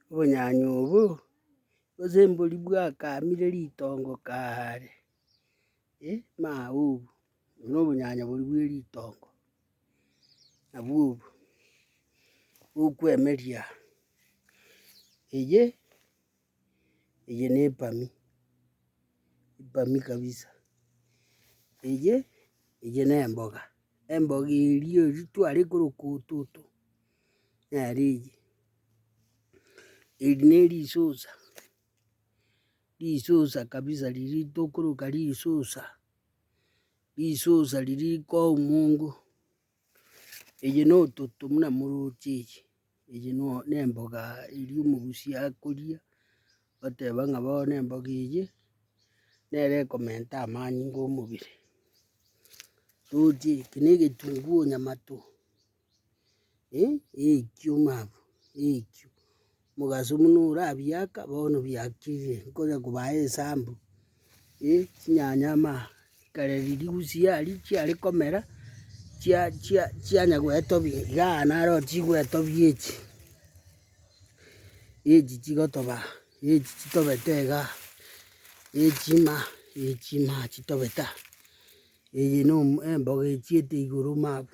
Obonyanyi obo gose mbori bwakamire ritongo kaare, maa obo no obonyanyi boria bwe ritongo, nabwo obo okwemeria eye. Eye ne epami, epami kabisa. Eye, eye ne emboga, emboga eria eri tware koroka ototo, nere eye. Eri ne risusa, risusa kabisa riria tokoroka risusa, risusa riria rikoa omongo. Eye nototo buna moroche eye, eye no nemboga eria omogusi akoria, oteba ng'a bono emboga eye, nere ekomenta amani inga omobere. Roche eke na egetunguo onyamato, eh, eikio mama, eikio. Mogaso buna orabiaka, bono biakire, nkonya kobaa esambu, eh, chinyanya amaha, ekero riria gusiaa riria chiare komera, chia chia chianya goetobia igaa naro chigoetobia echi, echi chigotobaa, echi chitobete igaa, echi ma, echi ma chitobete aa, eye no emboga echiete igoro mabu.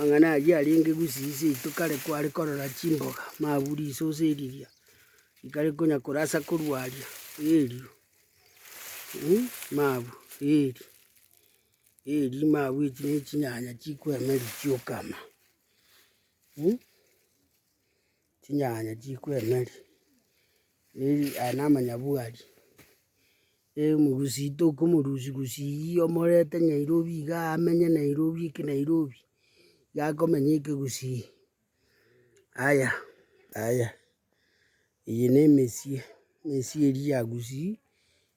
Amang'ana ayio arenge gusii seito kare kware korora chimboga, mabuu risosi riria rikare konya korasa korwa aria erio mabuu eeri eeri mabuu echi ne chinyanya chikoemeria chiokama. Chinyanya chikoemeri, eri aya na amanyabwari, emugusi toka omorusi gusii omorete nyairobi iga amenye nairobi eke nairobi, iga akomenya eke gusii. Aya aya, eye na emesie, emesie eria ya gusii.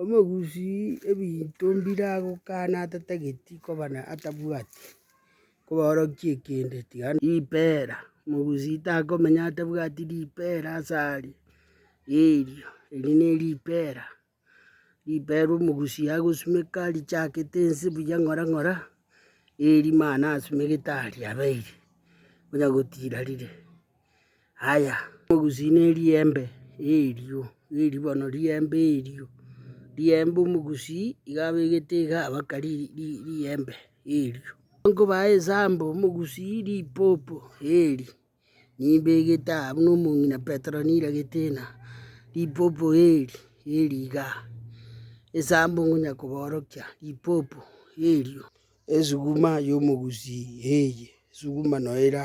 Omogusi ebinto mbire agokana atatageti koba na atabwati kobaorokia ekende, tiga ripera, omogusi takomenya atabwati ripera ase aria, erio eri ne ripera, ripera omogusi agosimeka richakete ense buya ng'ora ng'ora, eeri mani asimegete aria abeire, onya gotira rire. Aya, omogusi ne riembe erio, erio bono riembe erio, riembe omogusi iga abegete iga abaka ri ri riembe erio. Nkobaa esambo omogusi ripopo eeri, nimbegete aa buna omong'ina Petero niragete ena, ripopo eeri eeri iga, esambo ngonya koborokia ripopo erio. Esuguma ya omogusi eye, esuguma no era.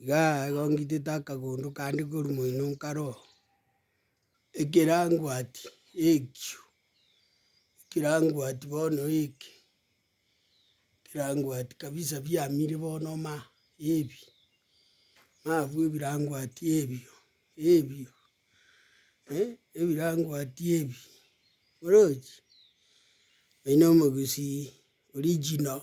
Igaa igo ngitete akagondo kande korwa moino nkaro, ekerangwati ekio, ekerangwati bono eke, ekerangwati kabisa biamire bono ma, ebi, mabu ebirangwati ebio, ebio ebirangwati ebi, orochi, oino omogusii, original.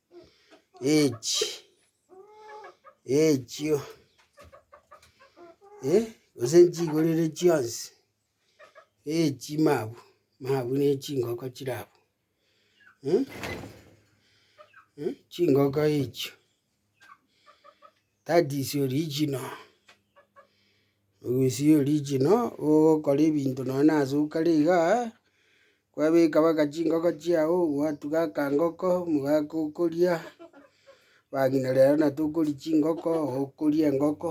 Echi echio eh, gose nchigorere chionsi, echi mabu, mabu ne chingoko chire abwo eh, eh chingoko echio. that is original ogwesi original ogokora ebinto nonye na asuka are igaa, kwabeka mpaka chingoko chiago, gwatuga akangoko, omogaka okoria, bang'ina rero na tokoria chingoko, okoria engoko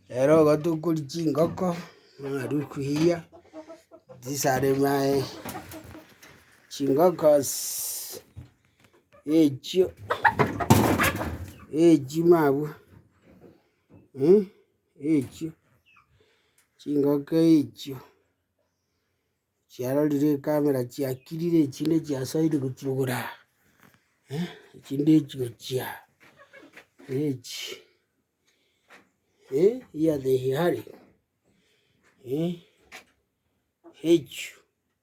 rero igo tokoria chingoko, narwa kuyia, these are my chingoko's. echio echio mabwe echio chingoko echio chiarorire ecamera chiakirire echinde chiasaire gochia igoro aa echinde echi gochia aa echi here are echio.